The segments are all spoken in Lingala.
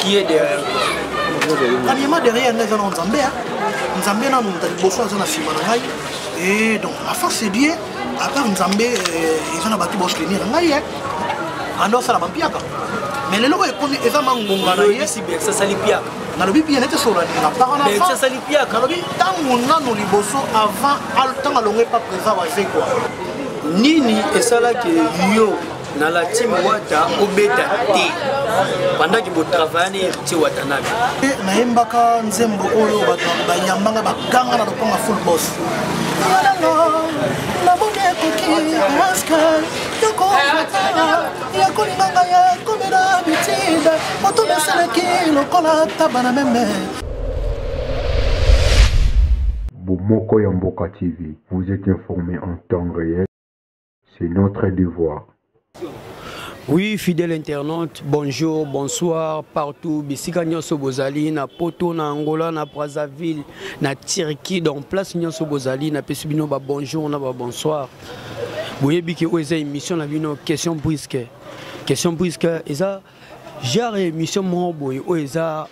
qui est derrière kanyema derrière ngai eza na nzambe ya nzambe nanu moto liboso aza na nsima na ngai e donc afin c'est bien apart nzambe euh, eza na bato baosutenir na ngai anda osala bampiaka mais lelo oyo ekomi eza mangonga na ye sasali piaka nalobi bien nete solanela paranasasali piaka nalobi ntango nano liboso avant ntango alongo epa présent wazekwa nini esalaki yo na la team wata obeta te bandaki botravayani héritier watanabe nayembaka nzembo oyo bato bayambanga bakanga na lokonga full boss namoni ekoki maske yokoaa ya kolinga ngai ya komela bitide moto mesalaki lokola taba na meme bomoko ya mboka tv vous êtes informé en temps réel C'est notre devoir. Oui, fidèle internaute, bonjour, bonsoir, partout, bisika nyonso bozali, na Poto, na Angola, na Brazzaville, na Turquie, donc place nyonso bozali, na pesi bino ba bonjour, na ba bonsoir. Boyebi ke oyo eza émission na bino, question brisque. Question brisque, eza genre ya émission moko boye oyo eza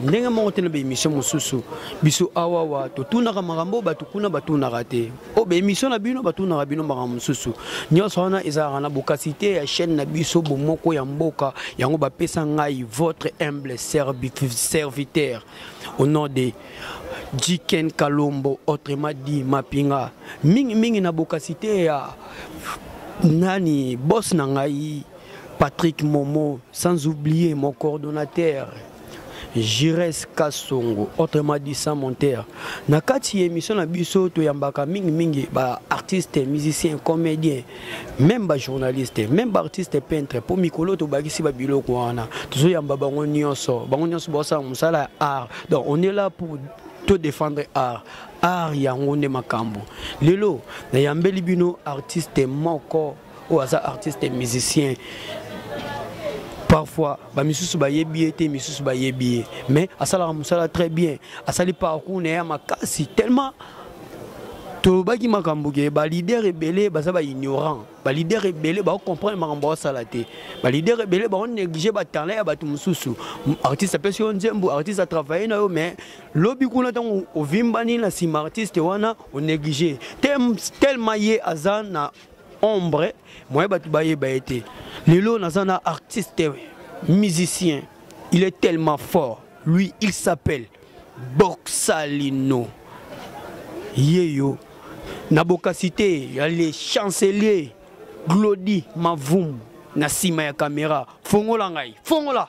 ndenge moko te na baémission mosusu biso awawa totunaka makambo oyo bato kuna batunaka te oyo baémission na bino batunaka bino makambo mosusu nyonso wana ezalaka na bokasi te ya chaîne na biso bomoko ya mboka yango bapesa ngai votre humble serviteur au nom de jiken kalombo autrement dit mapinga mingimingi na bokasi te ya nani bos na ngai Patrick Momo, sans oublier mon coordonnateur, Jires Kasongo, autrement dit sans monteur. Na kati émission na biso to yambaka mingi mingi ba artistes, musiciens, comédiens, même ba journalistes, même ba artistes peintres pour mikolo to bagisi ba biloko wana. Tozo yamba bango nyonso, bango nyonso ba sa musala art. Donc on est là pour to défendre art. Art yango nde makambo. Lelo na yambeli bino artiste moko oyo aza artiste musicien parfois bamisusu bayebi ye te misusu bayebi ye mais asalaka mosala très bien asali parcours na ye ya makasi tellement tolobaki makambo ke balider ebele baza baignorant balider ebele baocomprendre makambo baosala te balider ebele baonéglige batalent ya bato mosusu artiste apesi yo nzembo artiste atravaille na yo mais lobi kuna ntango ovimbani na nsima artiste wana onéglige tellement ye aza na ombre moye bato bayeba ye te lelo naza na artiste musicien il est tellement fort lui il s'appelle boxalino ye yo na bokasi te ya le chancelier glodi mavum na nsima ya kamera fongola ngai fongola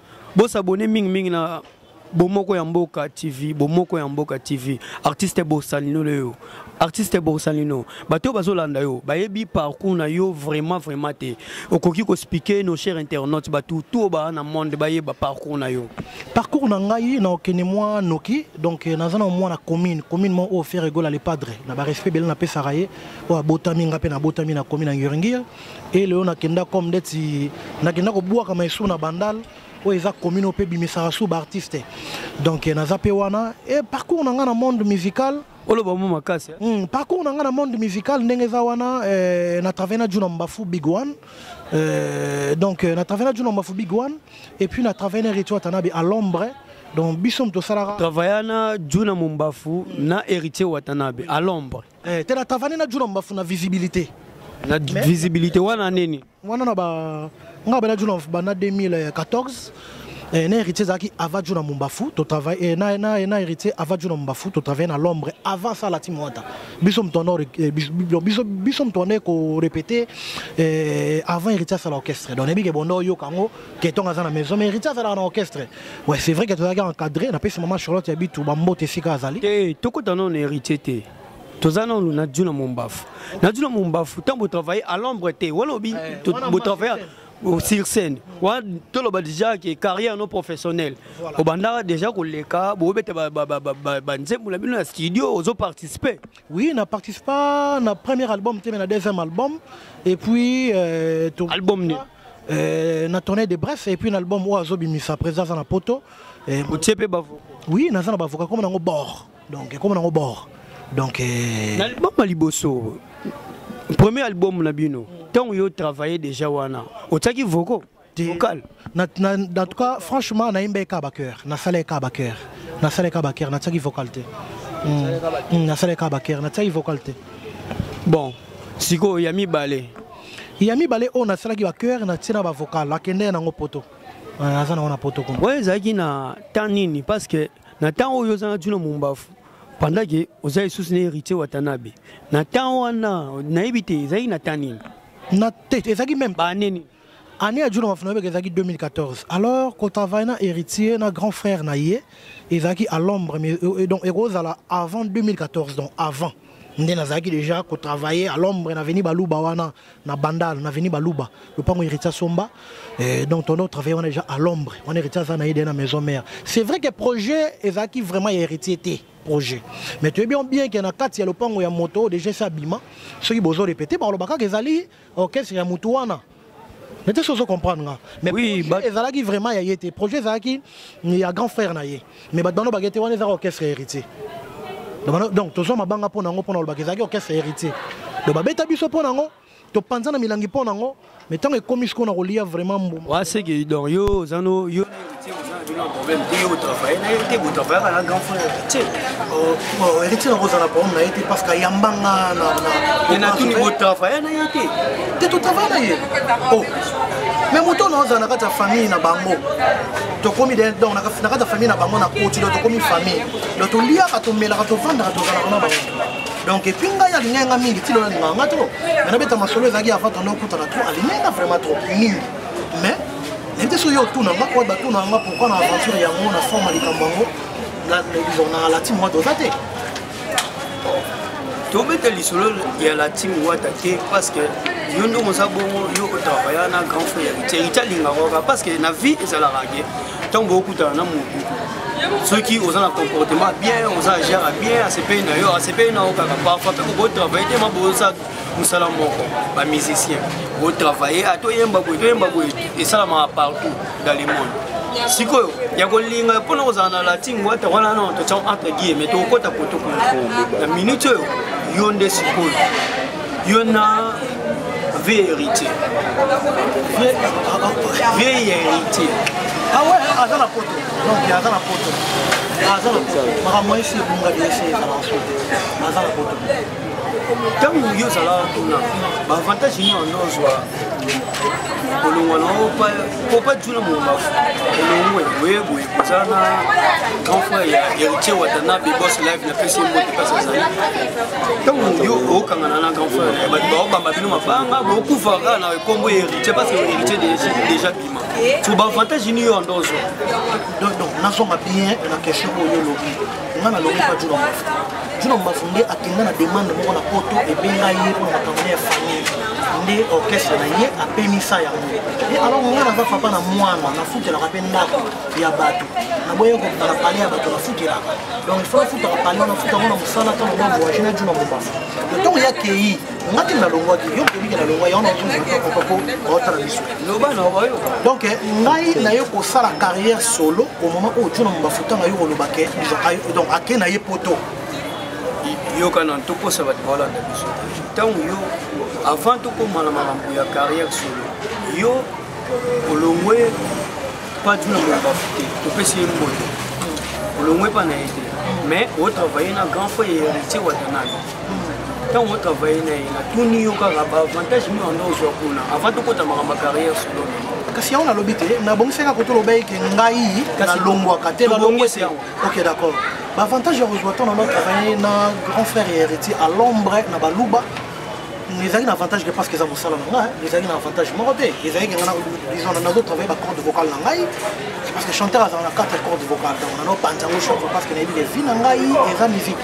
Bo s'abonner mingi mingi na bomoko ya mboka tv bomoko ya mboka tv artiste bosalino leyo artiste bosalino bato oyo bazolanda yo bayebi parcours na yo vraiment vraiment te okoki kospike nos cher internaute bato to baa na monde bayeba parcours na yo parcours na ngai na okende mwa noki donc eh, naza na mwa na commune commune mwa oyo fere egola le padre na barespect ebele napesaka ye oyo abotami ngai mpe nabotami na commune ya nguringir e lelo nakenda comme ndeti nakenda kobwaka maesu na bandal oyo eza commune oyo mpe ebimisaka su baartiste donc eh, naza mpe wana e parcours na ngai na monde musical oloba mo makasi mm, parcours na ngai na monde musical ndenge eza wana eh, na travaille na juna mbafu big one eh, donc eh, na travaille na juna mbafu big one et puis na travaille na rituel tanabe à l'ombre donc biso moto tosalaka travailla na juna mombafu na héritier watanabe à l'ombre eh, te na travane na juna mbafu na visibilité na visibilité wana nini wana na ba nga bana juna bana 2014 eh, na héritier ezalaki ava juna mumbafu totravaille eh, na, na, na héritier ava juna mumbafu totravaille na l'ombre avant ça lati mwata biso moto wana eh, biso, biso moto wana ekorepete eh, avant héritier asala orchestre donc nayebike bonda oyoka yango oh, ketonga aza na maison mais héritier azalaka na orchestre ouais c'est vrai que tozalaki encadré napesi mama charlotte ya bitu bambote esika azali te tokota nano na héritier te toza nano na dju na mombafu na dju na mombafu ntango botravaille à l'ombre te walobi eh, botravaille sur scène wana toloba déjà ke carrière no professionnelle obandaka déjà koleka bobeta banzembo na bino na studio ozoparticipe Oui, na participa na premier album te mais na deuxième album et puis euh, to... album ni euh, na tournée de bref et puis na album oyo azobimisa président aza na poto euh, otie mpe bavoka oui naza na bavoka ekoma nango bord donc ekoma nango bord donc euh... na album ya liboso premier album na bino ntango yo travaille déjà wana otiaki voko vocal na, na, en tout cas franchement nayemba eka bacoeur nasala eka bacoeur nasala eka bacoeur natiaki vocal te hmm. nasala eka bacoeur natiaki vocal te bon sikoyo ya mibale ya mibale oyo nasalaki bacoeur natie na bavocal akende ye nango poto aza nango na poto kuna oyo ezalaki na temps nini parce que na temps oyo ozanga tuna mombafu pendant ke oza lisusu na héritier watanabe na temps wana nayebi te ezalaki na temps nini na te ezalaki meme baneni année ya juna mafuno yebeke ezalaki 2014 alors kotravaille na héritier na grand frère na ye ezalaki à l'ombre mais euh, euh, donc ekozala avant 2014 donc avant nde nazalaki déjà kotravaille à l'ombre na veni baluba wana na bandal na veni baluba lopango héritier somba euh, donc tondo travaille wana déjà à l'ombre wana héritier aza na ye de na maison mère c'est vrai que projet ezalaki vraiment ya héritier te projet mais toyebi bien ke na kati ya lopango ya moto oyo déjà esi abima soki bozo repete balobakaka ezali orchestre ya mutu wana nete sozo comprendre nga mais oui, but... ezalaki vraiment ya ye te projet ezalaki ya grand frère na ye mais bato bano bakete wana ezalaka orchestre héritier donc tozwa mabanga mpo na yango mpo na olobaka ezalaki orchestre héritier donc babeta biso mpo na yango topanza na milangi mpo na yango mais ntango ekomi sikoyo na kolia vraiment mbuma waseki donc yo ozano yo elekisi nako ozala problème na ye te parce que ayambanga natuni botravaille na ye te te totravaille na ye oh. mais moto oyo naozala na kati ya famille na bango tokomi donc na kati ya famille na bango na koti donc tokomi famille donc toliaka tomelaka tofandaka tozalaka na bango donc epuis ngai alingaki nga mingi ti lona alingaka nga trop me nabeta masolo ezalaki avant tonda okutana trop alingaki nga vraiment trop mingi mais nayebi te soki yo otuna nga oyo batuna nga pourkui na aventure yango na forme ya likambo yango na latin moite oza te tobeta lisolo ya latin wata te parce que yo nde oza bongo yo otravaya na grand frère héritier héritier alingaka kaka parce que na vie ezalaka ke ntango bokutana na motu soki oza na comportement bien oza agere bien asepeli na yo asepeli na yo kaka parfois mpe kokotravaille te maboza mosala moko ba musicien otravaille ata oyemba boye toyemba boye esalamaka partout dans le monde sikoyo ya kolinga mpona kozala na latin wata wana na totia entre guille me tokokota poto kuna na minute oyo yo nde sikoyo yo na vie héritier vie héritier ah ouais aza na poto donc aza na poto aza na poto makambo esi ebunga biesi ezala na poto aza na poto ntango yo ozalaka kuna baavantage nini wana ozwa kolongwa na yo po pa juna mongafu elongwe boye boye koza na grand frère ya héritier watanabe bos live na pesi ye mbote kasi azali ntango yo okangana na grand frère ya bato baobamba bino mabanga bokufa kaka na ekombo ya héritier parce que héritier déjà bima so baavantage nini yo ando ozwa nazonga bien na question oyo olobi nga nalongi pa juna mbafu juna mbafu nde akenda na demande moko na poto ebenga ye mpo na makambo ya famille nde orchestre na ye apemisa yango e alors nga naza papa na mwana nafutelaka mpe ndako ya bato naboye kokita na pale ya bato nafutelaka donc ifo nafutaka pale wana futa yango na mosala ntango ba voyage na juna mbafu ntango ya kei nga te nalongwaki yo oyebi ke nalongwa yango naotala biso donc eh, ngai na ye kosala carrière solo au moment oyo tuna mafuta na yo koloba ke donc ake na ye poto yoka na tokosa bato baolanda biso ntango yo avant tokoma na makambo ya carrière solo yo olongwe pa tuna moloba te topesi ye mboto olongwe pa na ye te mais otravaille na grand frère héritier watanani ntango otravaille na ye natuni yo kaka baavantage nini wanda ozwa kuna avant tokota makambo ya carrière solo kasi yango nalobi te nabongisaki ako toloba eke ngai nalongwaka te nalongwese ok d'accord baavantage ya kozwa ntango nano travaille na grand frère ya héritier à l'ombre na baluba ezalaki na avantage te parce que eza mosala na ngai ezalaki na avantage moko te ezalaki nga disons nazo travaille ba corde vocale na ngai parce que chanteur azala na 4 corde vocale donc nano panza yango chanson parce que nayebi levi na ngai eza musique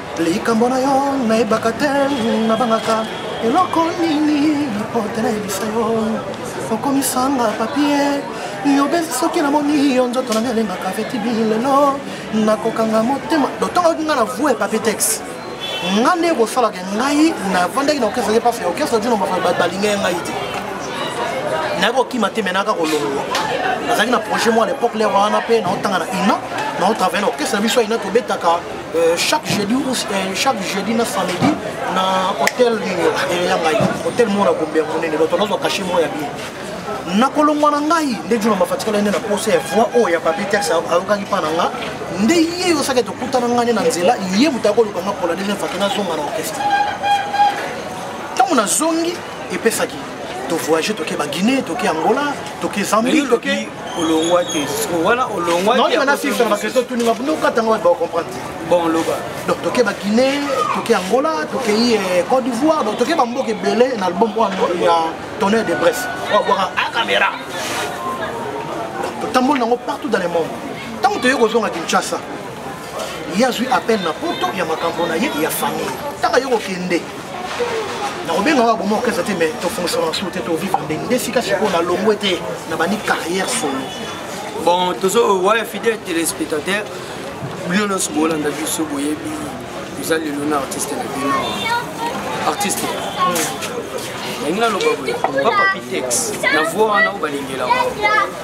likambo na yo nayebaka te nabangaka eloko nini po te nayebisa yo okomisanga papie yobezi soki namoni yo nzoto nanga elengaka fetibi lelo nakokanga motema dotongaki nga na vue papie texte nga nde kosalaka ngai navandaki na okesaki mpasi ya okesa dino balingaki ngai te naye kokima te me naka kolongwa nazalaki na projet mwa na epoque lere wana mpe naotanga na ina naotravaille na orchestre na biso ya ina tobetaka Euh, chaque jeudi ou euh, chaque jeudi na samedi na hôtel euh, ya ngai hôtel moko na gombe ya monene donc nazwa kashe moko ya bien nakolongwa na ngai nde juna mafatikala nde na posa ya voi oyo ya papier tex ayokaki mpa na nga nde ye osaki tokutana ngai nde na nzela ye moto akoluka nga mpola ndenge faki nazonga na orchestre ntango nazongi epesaki tovoyage toke baguinée toke angola toke zambie toke olongwa te wana olongwa naoyeba na fifa na bakristo tuni mabundokata yango bato bakomprendre te bon loba donc toke baguinée toke angola tokei eh, côte d'ivoire donc toke bamboka ebele na album wana ya tonnerre de bref oyo abwaka a ah, caméra totamboli nango partout dans le monde ntango toyei kozonga kinshasa ye azwi appel na poto ya makambo na ye ya famille ntaka yo kokende nakobenga oyo aboma orchestre te mais tofongisaka na solo te tovivre ndenge nde esika sikoyo nalongwe te na bandi carrière solo bon tozo waya fidèle téléspectateur bino nyonso bolanda biso boyebi toza lelo na artiste na bino artiste yangi naloba boye papa pitex na voi wana oyo balengelaka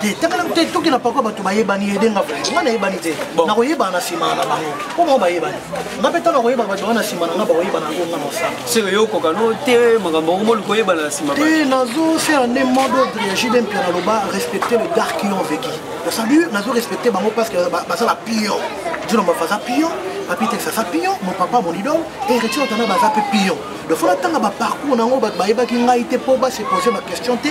te takala te tokenda pakua bato bayebani ede nga vraimen nga nayebani te nakoyebana na nsima na bango mpo bango bayebani nga mpe ntango nakoyeba bato wana na nsima na nga bakoyebana yango nga mosala seke yo okokano te makambo yango moli koyebana na nsima te nazo se ane mode ordre ya jide mpia naloba respecte le dark yon veki osali nazo respecte bango parce que baza ba pion dino mafaza pion papi tex aza pion mon papa mon idole héritier otana baza mpe pion lofona ntanga baparcours na yango bato bayebaki ngai te mpo basepose baquestion te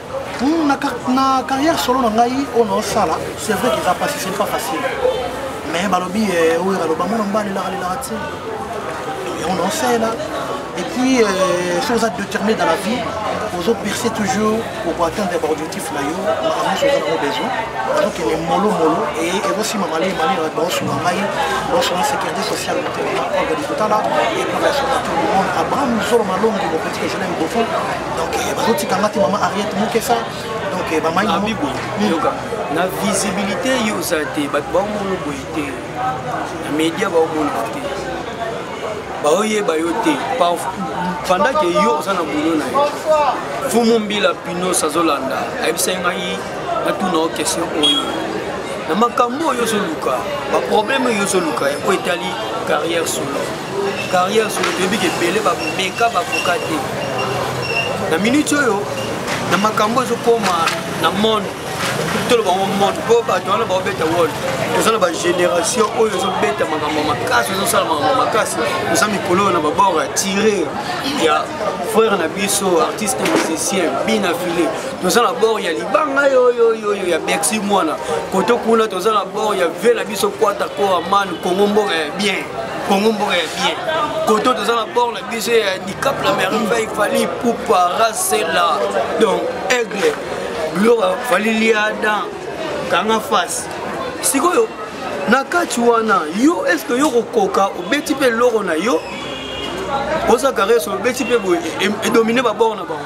Hmm, na, na carrière solo na ngai oyo naosala c'est vrai qu'eza pasi c'est pas facile mais balobi eh, oyo baloba mwana mobali elaka lelaka te yango naosala et puis euh, soki oza déterminé dans la vie ozo percer toujours oko atteindre baobjectif na yo makambo nyonso oza nango besoin azokende molomolo e ekosima malei malei baosunga ngai baosunga sécurité sociale motelema organi kotala et pour la sona tout le monde abraham zolo malongi mopetika je l'aime beaucoup donc eh, bazotika nga te mama ariete mokesa donc eh, bamaibibo ah, yoka na visibilité yo oza te bato baomona boye te na média baomona te baoyeba yo te pendant ke yo oza na boulot na yo fumu mbila pinos azolanda ayebisaki ngai natuna yo question oyo na makambo oyo ozoluka baproblème oyo ozoluka oyo etali carrière solo carrière solo toyebi ke ebele bameka bakoka te na minute oyo na makambo ezokoma na monde toloba ngo monde mpo bato wana baobeta wol toza na bagénération oyo ezobeta makambo ya makasi ezosala makambo ya makasi toza mikolo oyo na babord ya tire ya frère na biso artiste musicien bina file toza na bord ya libanga yoyoyoyo ya bercy mwana koto kuna toza na bord ya vie na biso kwata koaman kongo mboka ya bien congo mboka ya bien koto toza na bord na biso ya handicap la merveille fali pupa rasela donc aigle gloire fali liada kanga face sikoyo na kati wana yo estce yo kokoka obeti mpe eloko na yo oza kareso obeti mpe boye edomine babor na bango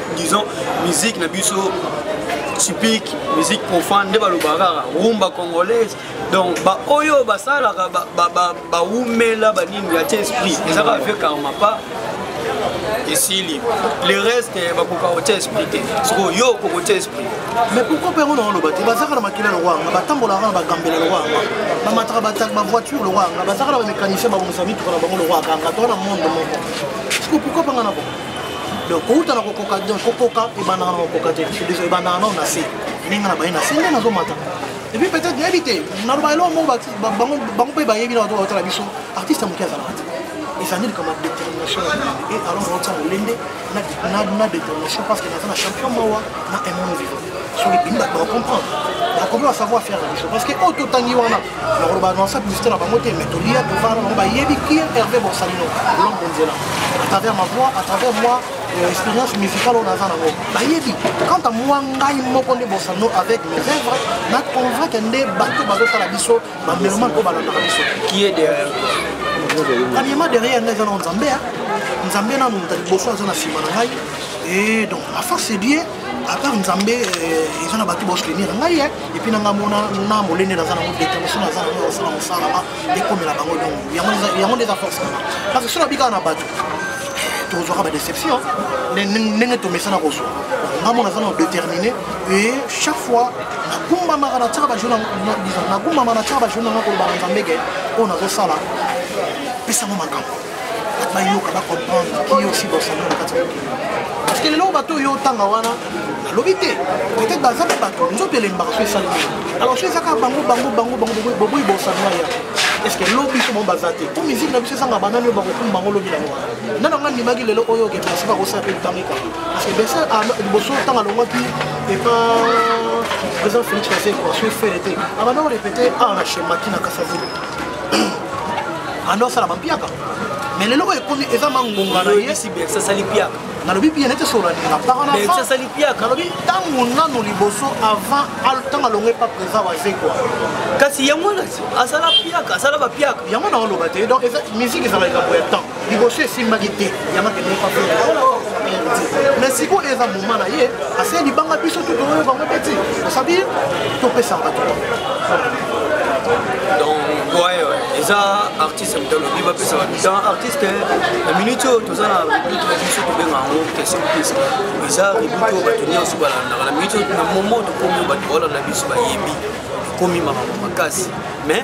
disons musique na biso typique musique profane nde balobaka kaka rumba congolaise donc baoyo basalaka bawumela banini ya te esprit eza kaka vieux karma pas esili le reste eh, bakoka kotia esprit te soko yo okokotia esprit mais pourquoi mpe yango na oloba te bazaka na makila lokwa yanga batambolaka na bagambela lokwa yanga bamataka bataki bavoiture lokwa yanga bazaka na bamécanicien babongisa mituka na bango lokwa yanga to na monde moko siko pourquoi mpe nga na bo donc kouta na kokoka donc kokoka ebandaka na kokoka te ebandaka nao na se ndenge na baye na se nde nazomata epuis peut-être nayebi te naloba eloko moko bango mpe bayebi na bato baotala biso artiste ya moke azalaka te ezali likama détermination na molende e alors naotia molende na détermination parce que naza na champion mawa na un monde vivant soki bini bato bacomprendre bakomi basavoir faire na biso parce que oyo totangi wana nakolo baanonsa publicité na bango te mais tolia tofana bango bayebi ki herve borsalino lom bonzela à travers ma voix à travers moi euh, expérience musicale oyo naza nango bayebi quant à moi ngai moko nde borsalino avec mes œuvres na convaincre nde bato bazosala biso bamelomane oyo balandaka biso qui est derrière premièrement derrière ngai eza nao nzambe nzambe nanu moto liboso aza na nsima na ngai et donc à force dieu à part nzambe eza na bato baosutenir ngai epuis nanga mona na molende naza nango determination naza nango ya kosala mosala ma ekomela bango nyongo yango nde eza force nanga parce que soki nabikaka na bato tozwaka badeception ndenge tomesana kozwa nga mona aza na déterminé e chaque fois nagumbamaka na tiaka bajour nagumbamaka na tiaka bajour nanga koloba na nzambege oyo nazosala pesango makambo bayoka bacomprendre ki yo si bosani na kati ya mokili parce que lelo bato oyo otanga wana nalobi te peut-être baza mpe bato nzoto elembaka mpe esali alors so ezaka bango bango bango bango boboyi bosani na ya est ce que lobi so bango baza te mpo musike na biso ezanga banani oyo bakokuma bango lobi nango wana nana nga ndimaki lelo oyo oke basi bakosala mpe ntango ekaka parce que besa ah, liboso ntango alongwaki epa président félix kasekwa so efele te abanda korepete awa na chemaki na kasavile anda osala bampiaka mais lelo oyo ekomi eza mangonga na ye asali piaka nalobi bien nete solalinga paranasali piaka nalobi ntango nano liboso avant ntango alongo epa présent wazekwa kasi yango asala piaka asala bapiaka yango naoloba te donc musique ezala likambo ya temps liboso esimbaki te yango akendeki kwa fete mais sikoyo eza moma na ye ase libanga biso tu toyoka yango te ti osabi topesa bato donc ouais, ouais. eza artiste moto alobi bapesa bato dans artiste na minute oyo toza na rebut na biso tobenga yango question pise eza rebut oyo bato nyonso balandaka na minute na momo tokomi oyo bato baolanda biso bayebi ekomi makambo makasi mais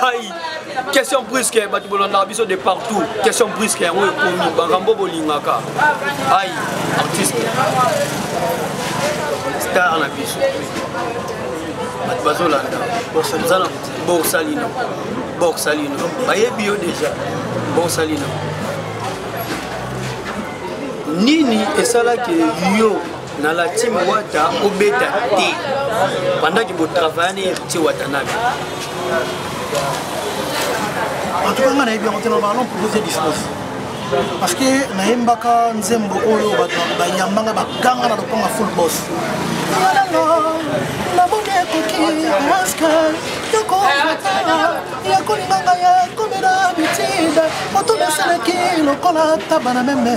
Aïe, question brusque, bato bolanda biso de partout. Question brusque, yango ekomi bakambo bolingaka. Aïe, artiste. Star na biso. Bato bazolanda. Boza na Borsalino. Borsalino. Bayebi yo déjà. Borsalino. Nini esalaki yo na la team wata obeta te pendant que botravaille na héritier watanabe en tout cas nga nayebi yango te na balon propose dispose parce que nayembaka nzembo oyo bato bayambanga baganga na lokonga full boss namoni ekoki maske yokoata yakolinganga ya komela bitide moto mesalaki lokola taba na meme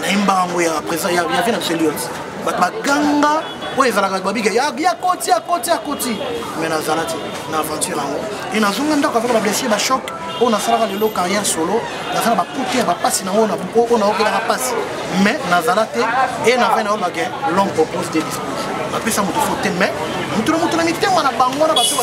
nayembaka yango ya présent ya vie na biso lions bato baganga oyo ezalaka babika ya koti ya koti ya koti mais nazala te na aventure yango e nazonga ndako avaka bablessure bachoc oyo nasalaka lelo carrière solo naza na bakutu ya bapasi na oyo naokelaka mpasi mais nazala te e na vai na oyo bake long propose de dispose bapesa moto fo te mais moto na moto na mitema na bango na bato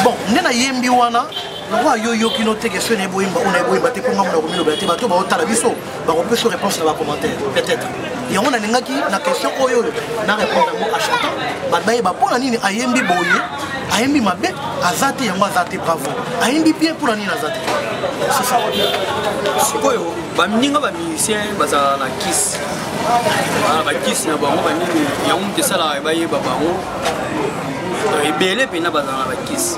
bon nde nayembi wana lokola yo oyoki no teke soki nayebi oyemba oyo nayebi oyemba te mpo ngai mona komilobela te bato baotala biso bakopesa réponse na bacommentaire peut-être yango nalingaki na question oyo oyo na répondre yango achantant bato bayeba mpo na nini ayembi boye ayembi mabe aza te yango aza te bravo ayembi bien mpo na nini aza te sikoyo baninga bamusicien bazala na kisi bakisi na bango banini yango moto esalaka bayeba bango ebele mpenza bazala na bakisi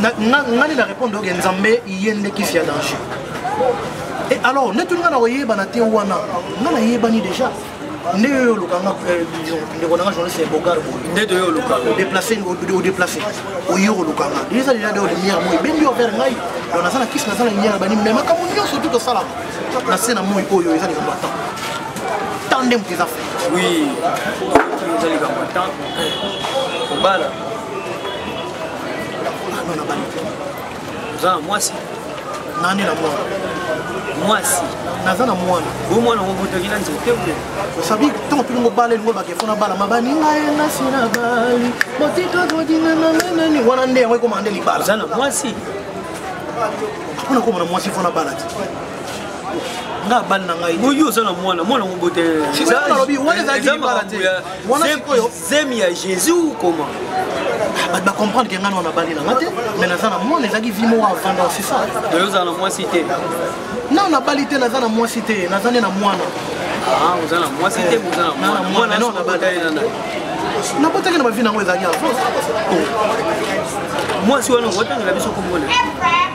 nga nde na répondre oke nzambe ye nde kisi ya danger e alors nde tuni nga na koyebana te wana nga nayebani déjà nde yo oluka nga euh, ndeko nanga journaliste ya bogar boye nde toyo oluka odeplace odeplace oyo oluka nga eza lela de lumière moi ebendi over ngai donc naza na kisi naza na lumière bani me makambo nyonso tu tosalaka na se na moi oyo eza likambo ya temps temps nde moto eza fe oui eza likambo ya temps kobala oza na mwasi nani na mwana mwasi naza na mwana o mwana obotaki na nzete te osabi ntango mpe mobala elingo bakefo na bala mabaninga ye nasi na bali motitododina na nanani wana nde yango ekoma nde libala oza na mwasi mpona koma na mwasi fo na bala te nga abali na ngai oyo oza na mwana mwana mobotelelobi wana ezalaki libala te wana sikoyo zemi ya jésus ou comment ah, bato bacomprendre ke ngai na wana bali nanga te mais naza na mwana ezalaki vi moko avanda c'est ça oyo ozala na mwasi te na nabali te naza na mwasi te naza nde na mwana ah, oza na mwasi te oza na mwana mwana no nabali nabotaki na bavi nango ezalaki avance oh. mwasi wana okotangela biso komona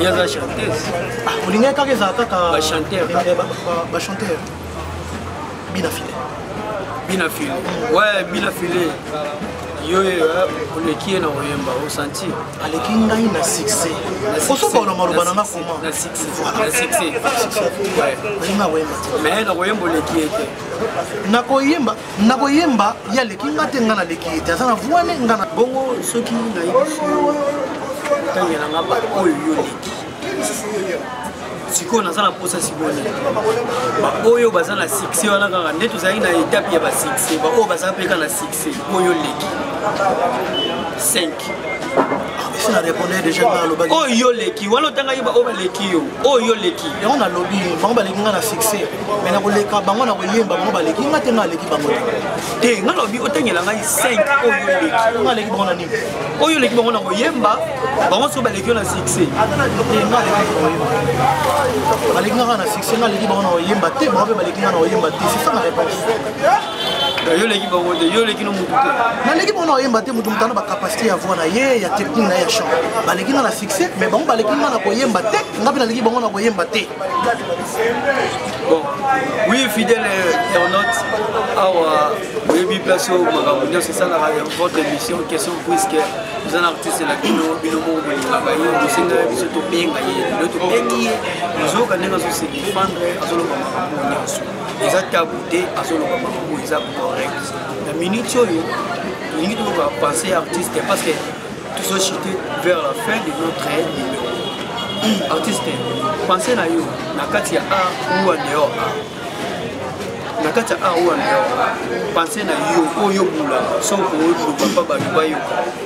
ye aza chanteuse ah, olingaki kaka ezala kaka bachanteur bachanteur bina file bina file we bina file yo eh, oleki ye na koyemba osanti aleki ngai na succès osokaona maloba na nga koma na succèsalinga koyemba mais na koyemba oleki ye te na koyemba na koyemba ye aleki nga te nga naleki ye te aza na voile nga na bongo soki nayebisi otangela nga bato oyo yo oleki sikoyo naza na mposa siboni baoyo baza na succès wana kaka nde tozalaki na etape ya basuccès baoyo baza mpe kaka na succès oyo oleki 5 esi na répondre déjà nga alobaki oyo yo leki wana otanga yeba oyo baleki yo oyo yo leki yango nalobi bango baleki nga na succès mais nakoleka bango na koyemba bango baleki nga te nga aleki bango te te nga lobi otangela ngai 5 oyo yo leki nga aleki bango na nini oyo oleki bango na koyemba bango soki baleki yo na succès baleki nga na succès nga aleki bango na koyemba te bango mpe baleki nga na koyemba te c'est ça na réponse yo oleki bango te yo oleki no motu te naleki bango na koyemba te motu moto ana bacapacité ya voi na ye ya technique na ye ya chant baleki nga na succès mais bango baleki nga na koyemba te nga mpe naleki bango na koyemba te bon oui fidèle internaute awa oyebi place oyo makambo nyonso esalaka ya votre émission question puisque oza na artiste na bino bino moko bolingaka ye bosengaka biso tobenga ye lelo tobengi ye ozoyoka ndenge azose defendre azoloba makambo nyonso eza tabu te azoloba makambo eza correct na minute oyo tolingi toloba pensé ya artiste parce que tozochite vers la fin de notre numéro artiste pensé na yo na kati ya art ou en dehors art na kati ya art ou en dehors pensé na yo oyo bula soko oloba mpa bato bayoka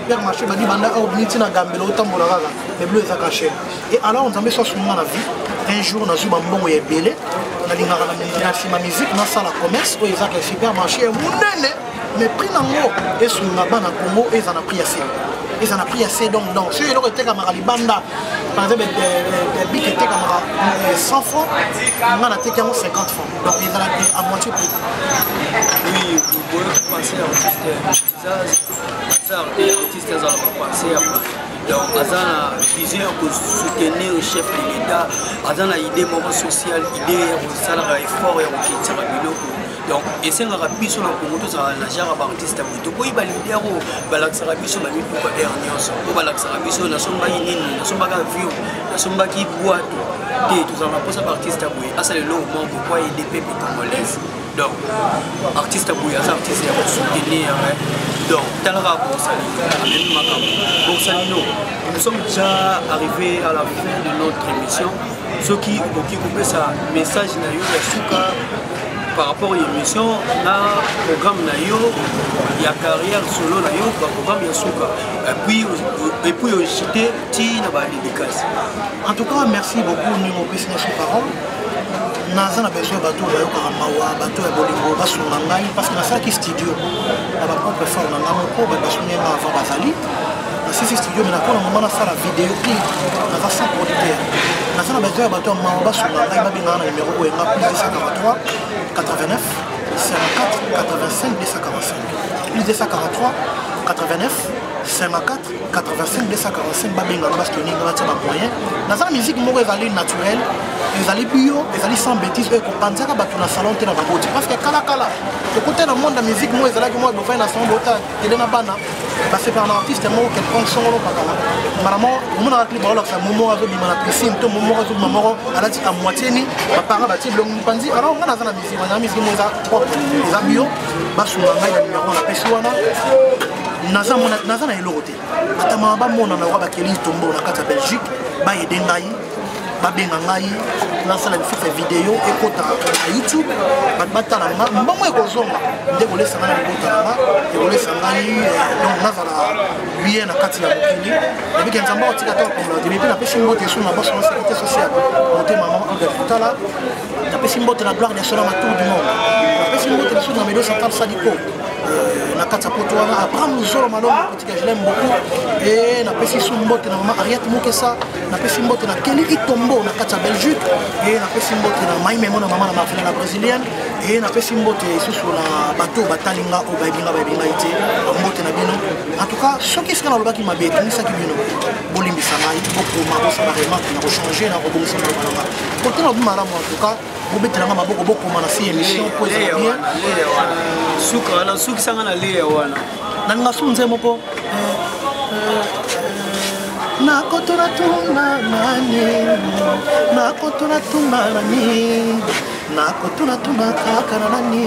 père marché badi banda awa obimi ntina gambela otambola kaka mais bilo eza cache e alors nzambe so asunga na vie un jour nazwi bambongo ya ebele nalingaka na nsima musique nasala commerce oyo ezaka ya super marché ya monene mais prix nango esunga bana congo eza na prix ya se eza na prix ya se donc donc soki eloko etekamaka libanda par exemple bik etekamaka 100 franc nga nateki yango 50 franc donc ezalaki à moitié prix oui, donc aza na vision ya kosoutenir chef de l'état aza na idée moko sociale idée ya kosalaka effort ya kokendisaka biloko donc esengaka biso na kongo tozalaka na genre baartiste boye tokoyi balider oyo balakisaka biso na mituka air nyonso oyo balakisaka biso nasombaki nini nasombaki avion nasombaki bwato te tozalaka mposa baartiste boye asala eloko moko mpo aide pepe congolaise donc artiste boye aza artiste ya kosoutenir hein. donc talaka bosalino amemi makambo bosalino nous sommes déjà arrivé à la fin de notre émission soki okoki kopesa message na yo ya suka par rapport ya émission na programme na yo ya carrière solo na yo baprogramme ya suka epuis ojete ti na badédicace en tout cas merci beaucoup mingo opesi na suka naza na besoin ya bato oyo bayokaka mawa bato ya bolingo basunga ngai parce que nasalaki studio na bapropre fort na ngai moko bato basungi ngai avant bazali nasisi studio me nakona mama nasala video clip naza sans producteur naza na besoin ya bato ya mawa basunga ngai babengaka na numero oyo enga plus 243 89 54 85 245 plus 243 89 54 85 245 babenga no baske oninga batia bamoyen naza na miziki moko ezali naturel ezali bio ezali sans bétise oyo ekopanzaka bato na salon te na baboti parceke kalakala tokutai na monde ya miziki moko ezalaki moko bofai na salon bota tele na bana basepela na artiste moko quelconque songolo pakala maramo omonaka clip baolakisa momo azobima na piscine to momo azobima moko alati a moitié ni bapanga batie bilongo mipanzi alors ngai naza na miziki wana miziki moko eza propre eza bio basunga ngai na nimero napesi wana naza mona naza na eloko te ata mama bamona na wa bakeli itombo na kati ya belgique bayede ngai babenga ngai nasala lisusu video ekota na youtube bato batala nga mbongo ekozonga nde kolesa ngai na libota na nga ekolesa ngai eh, donc nazala biye na kati ya mokili nabike nzambe akotika to akombola te mpe napesi mbote esu na baso na sekite sociale motema mama alga kotala napesi mbote na gloire national na tour du monde napesi mbote lisusu na medosa kapsadiko euh, na kati ya poto wana abraham luzolo malongo politika je l'aime beaucoup e napesi su mbote na mama ariette mokesa napesi mbote na keli itombo na kati ya belgique e napesi mbote na maimemo na mama na marvela na brésilienne e napesi mbote lisusu na bato oyo batali nga oyo bayebi nga bayebi ngai te mbote na bino en tout cas soki esika nalobaki mabe etungisaki bino bolimbisa ngai bokoma bosala remarke na kochange na kobongisa maloba na ngai kotala bi malamu en tout cas bobetela ngai maboko bokoma na si émission mpo ezala bien suka wana sukisa ngai na leya wana na ninga su nze moko nakotuna tuna nani nakotuna tuna nani nakotuna tuna kaka na nani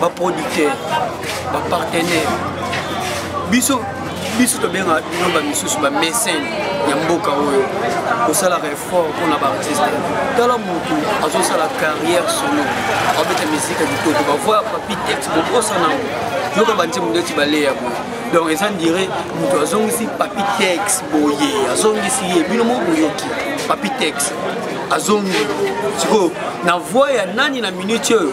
baproducteur bapartenaire biso biso tobengaka bino bamisusu bamesene ya mboka oyo kosalaka effort mpona baartiste tala motu azosala carrière solo abeta mizika kitoko bavoya papi tex bokosana yango yoka banzembo ndeti baleya boye donc eza ndire moto azongisi papi tex boye azongisi ye bino moko boyoki papi tex azongi sikoyo na voi ya nani na minute oyo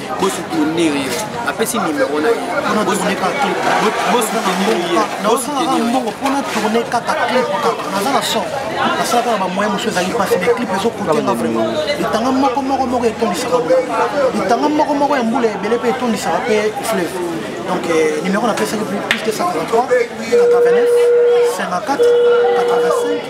bosoutenir ye apesi nimero na yebosouteniryeosutenirmbongo mpona tourne kaka clip kaka naza na son nasalaka na bamoyen mosusu ezali mpasi mais clip ezokotenga vraiment litanga moko moko moko etondisaka litanga moko moko ya mbula ebele mpe etondisaka mpe fleuve donc euh, nimero napesaki plus 243 89 54 85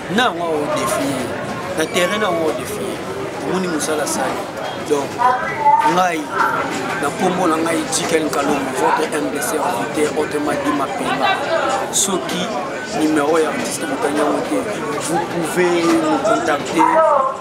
na yango ao defie na terrain na yango ao defie omoni mosala sali donc ngai na nkombo na ngai jikel nkalombo votre mbc invité autrement dit mapema soki numéro ya artiste motangi yango te vous pouvez me contacter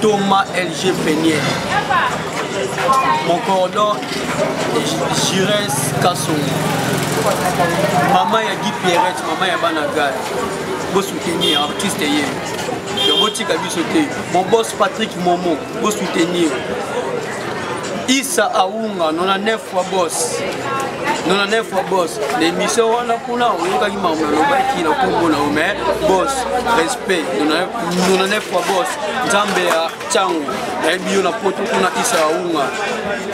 Thomas LG Penier, mon cordon Jires Kassou, maman ya Guy Pierret, maman ya Banagal, vous soutenez artiste hier. yango tika biso te mon boss patrick momo bosoutenir isa aunga 99 fois boss 99 fois boss na émission wana kuna oyokaki makambo nalobaki na nkombo na yo mais boss respect 99 fois boss nzambe ya ntango nayebi yo na poto kuna isa ya unga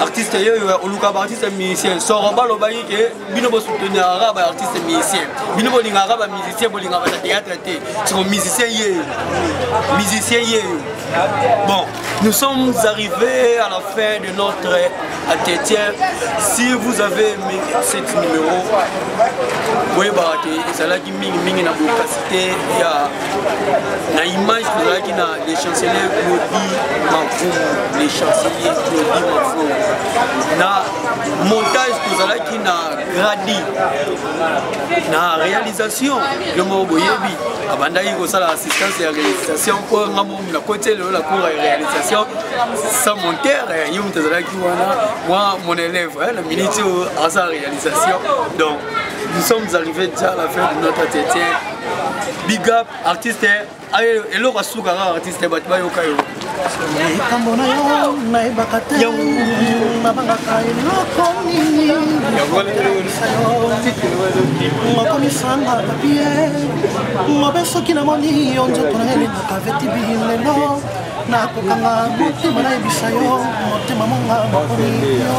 artiste yeyo oluka baartiste musicien soro balobaki ke bino bosouteniraka baartiste musicien bino bolingaka bamusicien bolingaka na théâtre te siko musicien yeyo musicien yeyo bon nous sommes arrivés à la fin de notre entretien si vous avez aimé cette numéro boyebaka te ezalaki mingimingi na bokasite ya na image tozalaki na le chancelier claudi mavumu le chancelier claudi mavumu na montage tozalaki na gradi na réalisation yo moko boyebi abandaki kosala assistance ya réalisation mpo nga mo nakoti elelo na cour ya réalisation sans monteur yo moto azalaki wana mwa mon élève na miniti oyo asala réalisation donc Nous sommes arrivés déjà à la fin de notre entretien. Big up, artiste, eloko asuka kaka artiste bato bayoka yo. Likambo na yo nayebaka te nabangaka eloko nini mokomisanga papie mobe soki namoni yo nzoto na elingaka vetibi lelo nakokanga motema nayebisa yo motema monga makomi yo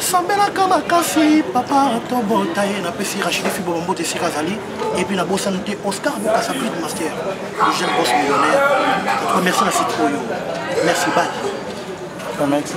sambelaka makasi papa tobota ye napesi rachidi fibo bambote esika azali epuis nabosani te oscar bokasa brid master le jeune bos millionnaire atuka merci na site oyo merci bal merci